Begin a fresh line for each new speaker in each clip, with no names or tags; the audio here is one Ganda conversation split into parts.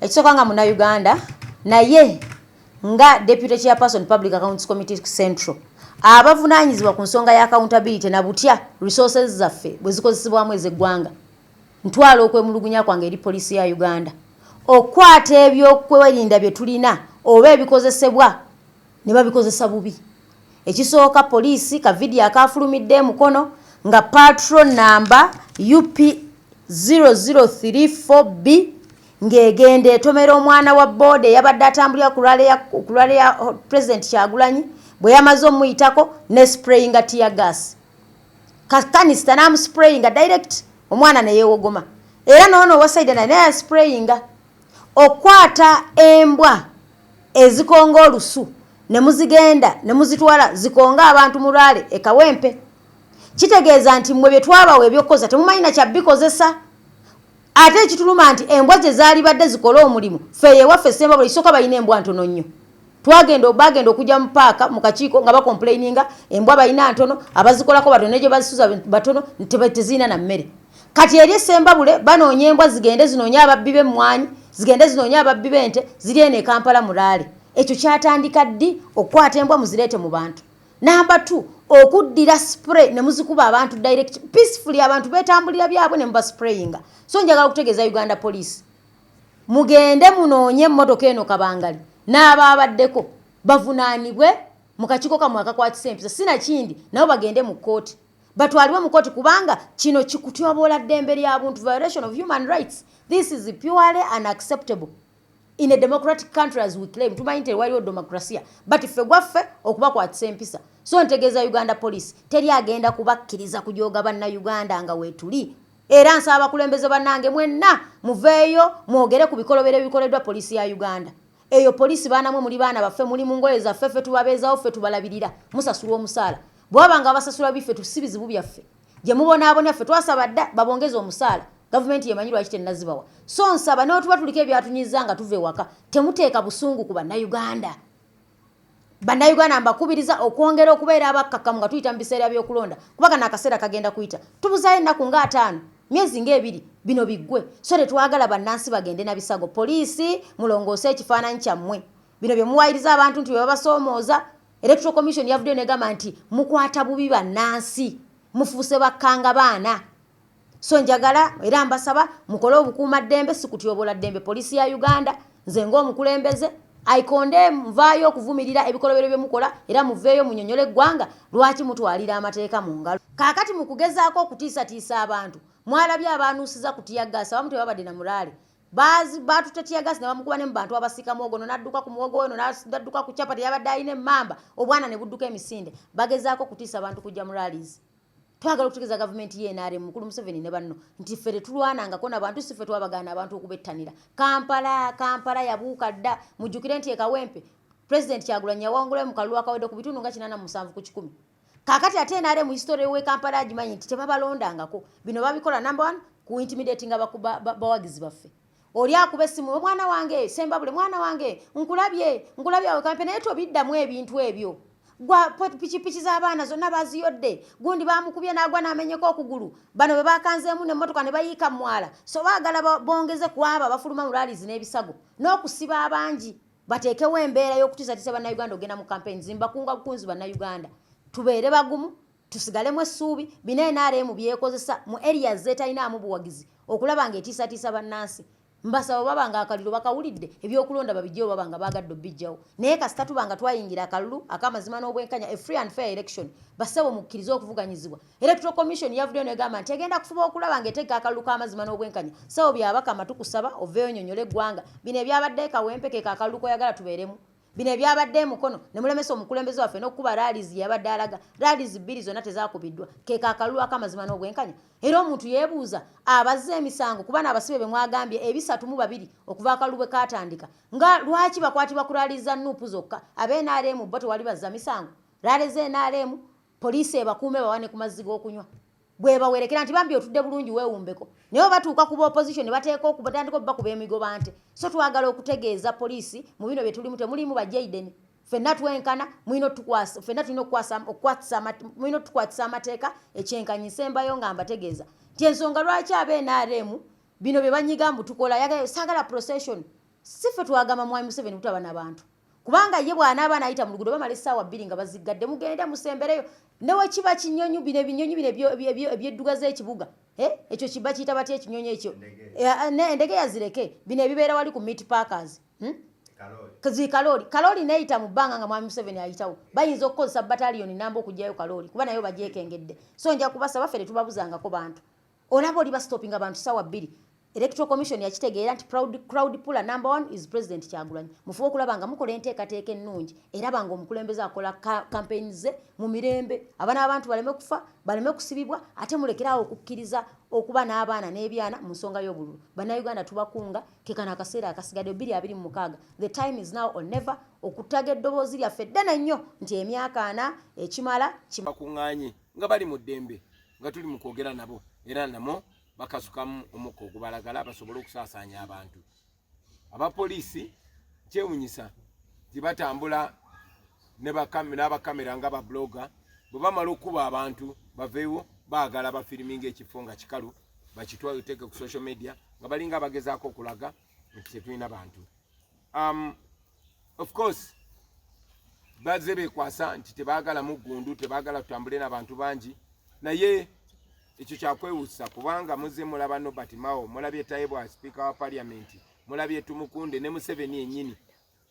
Ekisooka nga Munnayuganda naye nga Deputy Chairperson Public Accounts Committee Central abavunaanyizibwa ku nsonga ya accountability na butya resources zaffe bwe zikozesebwamu ez'eggwanga ntwala okwemulugunya kwange eri poliisi ya Uganda okukwata ebyokwerinda bye tulina oba ebikozesebwa ne babikozesa bubi. Ekisooka poliisi ka vidiyo akaafulumidde e Mukono nga patrol nnamba UP 0034B ng'egenda etomera omwana wa booda eyabadde atambulira ku lwale ya Pulezidenti Kyagulanyi bwe yamaze omuyitako ne sprayinga tiyagaasi kakanisita n'amusprayinga direct omwana ne yeewogoma era n'ono owa Saida naye naye yasprayinga. Okukwata embwa ezikonga olusu ne muzigenda ne muzitwala zikonge abantu mu Rale e Kawempe. Kitegeeza nti mmwe bye twabawa eby'okukozesa temumanyi na kya bikozesa. Ate ekituluma nti embwa ze zaalibadde zikole omulimu, ffe eyo ewaffe e Ssembabule ekisooka balina embwa ntono nnyo. Twagenda, baagenda okujja mu paaka mu kakiiko nga bakompuleyininga embwa balina ntono, abazikolako batono ne gye bazisuza batono nti tezirina na mmere. Kati eri Sembabule banoonya embwa zigende zinoonye ababbi b'emmwanyi, zigende zinoonye ababbi b'ente ziri eno e Kampala mu laale. Ekyo kyatandika ddi okukwata embwa muzireete mu bantu? Namba two, okuddira spray ne muzikuba abantu direct peacefully abantu beetambulira byabwe ne mubasprayinga. So njagala okutegeeza Uganda poliisi mugende munoonye emmotoka eno kabangali n'abaabaddeko bavunaanibwe mu kakiiko kammwe akakwatisa empisa si nakindi nabo bagende mu kkooti. batwalibwe mu kooti kubanga kino kikutyoboola ddembe lya buntu violation of human rights this is purely unacceptable in a democratic country as we claim tumanyi nti waliwo demokrasia but ffe gwaffe okubakwatisa empisa so ntegeeza uganda police teri agenda kubakkiriza kujooga bannayuganda nga weetuli era nsaba abakulembeze bannange mwenna muveeyo mwogere ku bikolobero ebikoleddwa poliisi ya uganda eyo poliisi baanamwe muli baana baffe muli mu ngoye zaffe ffe tubabeezawo ffe tubalabirira musasulwa omusaala bwaba nga abasasula biffe tusi bizibu byaffe gye mubonaabona ffe twasaba dda babongeze omusaala gavumenti yemanyi lwaki tenazibawa so nsaba newetuba tuliko ebyatunyiza nga tuva ewaka temuteeka busungu ku bannayuganda bannayuganda mbakubiriza okwongera okubeera abakkakkamu nga tuyita mu biseera byokulonda kuba kana akaseera kagenda kuyita tubuzaayo ennaku nga ataano myezi ngaebiri bino biggwe so tetwagala bannansi bagende na bisago poliisi mulongoose ekifaananyi kyammwe bino bye muwayiriza abantu nti bwe babasoomooza Electoral Commission yavuddeyo negamba nti mukwata bubi bannansi mufuuse bakkanga baana so njagala era mbasaba mukole obukuuma ddembe sikutyobola ddembe poliisi ya uganda nze ng'omukulembeze aikonde nvaayo okuvumirira ebikolobero bye mukola era muveeyo munyonyole eggwanga lwaki mutwalira amateeka mu ngalo kaakati mu kugezaako okutiisatiisa abantu mwalabye abaanuusiza kutiyaggaasi abamu tebabadde na muraale baatute tiyagasi ne bamukuba ne mu bantu abasika muwogo ono n'adduka ku muwogo ono n'adduka ku capati yabadde alina emmamba obwana ne budduka emisinde bagezaako okutiisa abantu kujja mu rallies twagala okutegeeza gavumenti ye nrm mukulu museveni ne banno nti ffe tetulwanangako nabantu si ffe twabagaana abantu okubettanira kampala kampala yabuuka dda mujjukire nti ekawempe pulezidenti kyagulanyi yawangulayo mu kalulu akawedde ku bitundu nga kinana musanvu ku kikumi kakati ate nare mu history we Kampala agimanyi nti tebabalondangako bino babikola number one ku intimidating abawagizi baffe oli akuba essimu omwana wange sembabule mwana wange nkulabye nkulabye awe kampe naye tobiddamu ebintu ebyo gwa pikipiki z'abaana zonna baziyodde gundi bamukubye n'agwa n'amenyeka okugulu bano bwe bakanzeemu n'emmotoka ne bayiika mwala so baagala bongeze ku abo abafuluma mu lalizi n'ebisago n'okusiba abangi bateekewo embeera y'okutiisatiisa bannayuganda okugenda mu kampeyini zimbakunga bukunzi bannayuganda tubeere bagumu tusigalemu essuubi bina nrm byekozesa mu eriya zeetalinaamu buwagizi okulaba nga etiisatiisa bannansi mbasaba baba nga akalulu bakawulidde ebyokulonda babijjewo baba nga baagadde obijjawo naye kasita tuba nga twayingira akalulu akamazima n'obwenkanya a free and fair election bassebo mukkirize okuvuganyizibwa Electoral Commission yavuddeyo negamba nti egenda kufuba okulaba ng'eteeka akalulu k'amazima n'obwenkanya sebo byabakama tukusaba oveeyo nyonyola eggwanga bino ebyabadde kawempe ke kakalulu koyagala tubeeremu bino ebyabadde emukono ne mulemesa omukulembeze waffe n'okukuba raalizi yabadde alaga raalizi bbiri zonna tezakubiddwa ke kakalulu ak'amazima n'obwenkanya era omuntu yeebuuza abazze emisango kuba n'abasibe be mwagambye ebisatu mu babiri okuva akalulu bwe kaatandika nga lwaki bakwatibwa ku raalizi za nuupu zokka ab'enrm bo tewali bazza misango raalizi enrm poliisi ebakuume bawane ku mazzi g'okunywa bwebawerekera nti bambi otudde bulungi weewumbeko naye batuuka ku baopposition bateeka okubatandika okubakuba emigoba nte so twagala okutegeeza poliisi mu bino bye tulimu temulimu bajaiden fenna twenkana mulina otukwasa fenna tulina okwatsamulina otukwatisa amateeka ekyenkanyisa embayo nga mbategeeza nti ensonga lwaki abe nrm bino bye banyiga mbu tukola sagala procession si ffe twagamba mwami museveni kutaba nabantu kubanga ye bw'anaaba anayita mu luguudo bamala essaawa bbiri nga baziggadde mugende musembereyo newekiba kinyonyi bino ebinyonyi bino ebyedduga z'ekibuga ekyo kiba kiyita batya ekinyonyi ekyo endege yazireke bino ebibeera wali ku meat parkers hmm? zikalooli kalooli neyita mu bbanga nga mwami museveni ayitawo bayinza okukozesa bataliyoni namba okugyayo kalooli kuba nayo bagyekengedde so nja kubasaba ffe tetubabuzangako bantu olaba oli bastopinga abantu sawa bbiri electoral commission yakitegeera nti crowd puller number one is president kyagulanyi mufube okulaba nga mukola enteekateeka ennungi eraba nga omukulembeze akola campaign ze mu mirembe abana abantu baleme kufa baleme kusibibwa ate mulekeraawo okukkiriza okuba n'abaana n'ebyana mu nsonga y'obululu bannayuganda tubakunga kekano akaseera akasigadde bbiri abiri mu mukaaga the time is now or never okutaga eddoboozi lyaffe ddene nnyo nti emyaka ana ekimala kimakuŋŋanye
nga bali mu ddembe nga tuli mu kwogera nabo era namo bakasukamu omukka ogubalagala basobole okusaasaanya abantu abapoliisi kyewunyisa nti batambula n'abakamera nga babloga bwe bamala okukuba abantu baveewo baagala bafiriminga ekifo nga kikalu bakitwateke ku social media nga balinga abagezaako okulaga nti tetulina bantu um, of course bazze bekwasa nti tebagala muggundu tebagala tutambule nabantu bangi naye ekyo kyakwewusa kubanga muzze mulaba nobert mao mulabye taibwa sipiika wa paliamenti mulabye tumukunde ne museveni enyini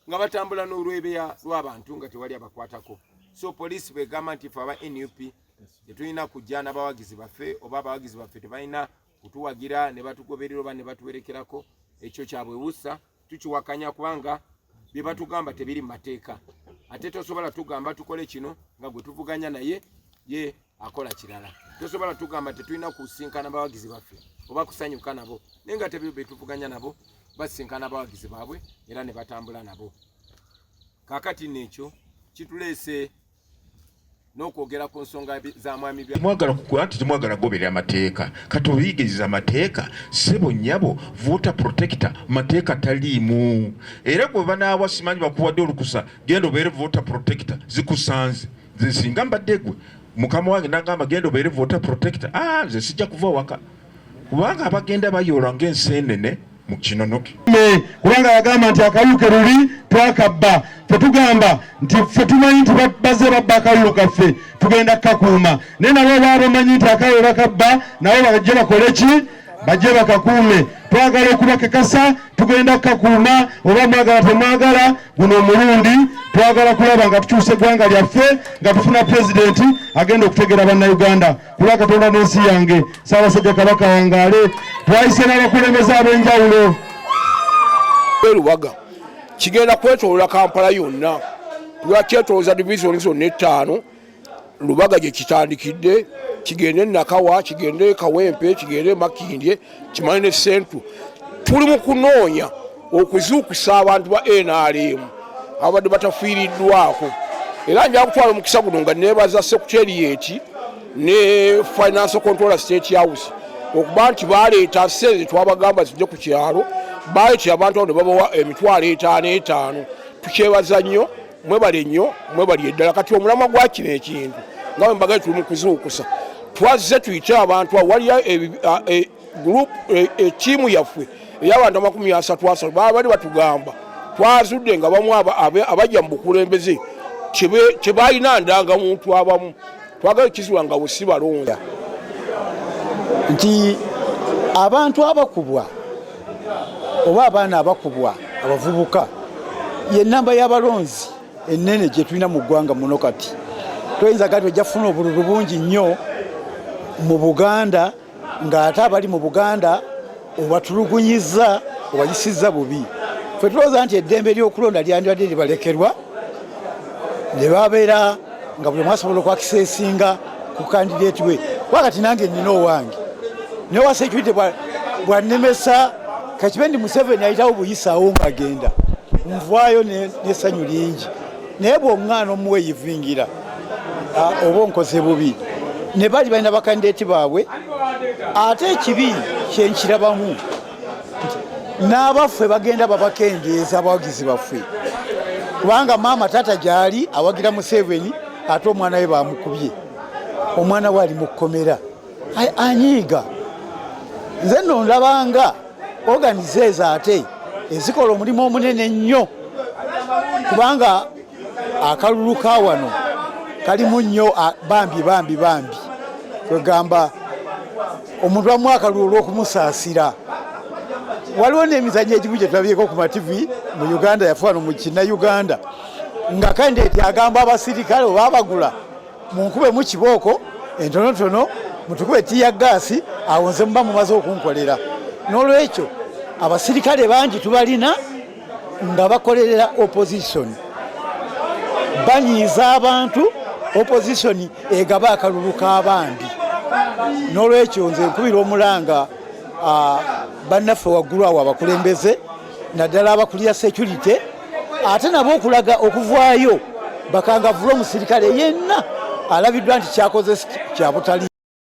nga batambula n'olwebeya lw'abantu nga tewali abakwatako so poliisi bwegamba nti fe aba nup tetulina kujja n'abawagizi baffe oba abawagizi baffe tebalina kutuwagira ne batugoberera oba ne batuwerekerako ekyo kyabwewusa tukiwakanya kubanga bye batugamba tebiri mu mateeka ate tosobola tugamba tukole kino nga gwe tuvuganya naye ye akola kirala tosobola tugamba tetulina kusinkana bawagizi baffe oba kusanyuka nabo naye nga tebyo betuvuganya nabo basinkana bawagizi baabwe era ne batambula nabo kakati neekyo kituleese n'okwogera ku nsonga za mwami bya mwagala kukuba nti temwagala
kugoberera amateeka kati obiyigiriza amateeka sebo nyabo voter protector mateeka taliimu era gwe banaawa simanyi bakuwadde olukusa genda obeere voter protector zikusanze nze singa mbadde gwe mukama wange nagamba genda obeere voter protector ah nze sijja kuva waka kubanga abagenda bayoola ng'enseenene mu kinonoke kubanga
yagamba nti akalulu ke luli twakabba tetugamba nti ffe tumanyi nti bazze babba akalulu kaffe tugenda kukakuuma naye nabo baa bamanyi nti akalulu bakabba nabo bajje bakole ki bajje bakakuume twagala okubakekasa tugenda kukakuuma oba mwagala temwagala guno omulundi twagala kulaba nga tukyusa eggwanga lyaffe nga tufuna pulezidenti agenda okutegeera bannayuganda kuba katonda n'ensi yange saabasajja kabaka wangaale twayise n'abakulembeze ab'enjawulo
erubaga kigenda kwetolola kampala yonna lwakyetoloza divisioni zonna ettaano lubaga gye kitandikidde kigende nakawa kigende kawempe kigende makindye kimanyi ne sentu tuli mu kunoonya okuzuukusa abantu ba nrm ababadde batafiiriddwako era nja kutwala omukisa guno nga nebaza sekuteriyeti ne finance controller state house okuba nti baleeta sente twabagamba zijje ku kyalo baletera abantu abo ne babawa emitwalo etaano etaano tukyebaza nnyo mwebale nnyo mwebali eddala kati omulamwa gwa kino ekintu nga wembaga tuli mukuzuukusa twazze tuyite abantu awaliyo e, group e, e, tiimu yaffe eyabantu amakumi asatu asatu babali batugamba twazudde nga bamu abajja mu bukulembeze tebalina ndanga muntu abamu twagala okukizula nga busi balonda nti
abantu abakubwa oba abaana abakubwa abavubuka yenamba y'abalonzi enene gyetulina mu ggwanga muno kati toyinza kati ojja kufuna obululu bungi nnyo mu buganda ng'ate abali mu buganda obatulugunyizza obayisizza bubi fe tulowooza nti eddembe ly'okulonda lyandibadde libalekerwa ne babeera nga buli mwasobola okwakisa esinga ku kandideeti we kuba kati nange nnina owange newa security bwannemesa kakibe ndi museveni ayitawo buyisawo ng'agenda nvaayo n'essanyu lingi naye bw'oŋŋaana omuweyivingira oba onkoze bubi ne bali balina bakandideeti baabwe ate ekibi kyenkirabamu n'abaffe bagenda babakendeeza abawagizi baffe kubanga maama taata gyali awagira museveni ate omwana we bamukubye omwana we ali mu kkomera anyiiga nze nondabanga organizes ate ezikola omulimu omunene nnyo kubanga akalulu ka wano kalimu nnyo bambi bambi bambi kwegamba omuntu amu akalulu olwokumusaasira waliwo n'emizanyo egimu gyetulabyeko ku mativi mu uganda yafuano mu kina uganda nga kandeti agamba abasirikale oba abagula munkube mu kibooko entonotono mutukube tiya gaasi awo nze muba mumaze okunkolera n'olwekyo abasirikale bangi tubalina nga bakolerera opposition banyiiza abantu opposition egaba akalulu k'abandi n'olwekyo nze nkubira omulanga bannaffe waggulu awo abakulembeze naddala abakulira security ate nabo okulaga okuvaayo bakangavula omusirikale yenna alabiddwa nti kyakoze kyabutali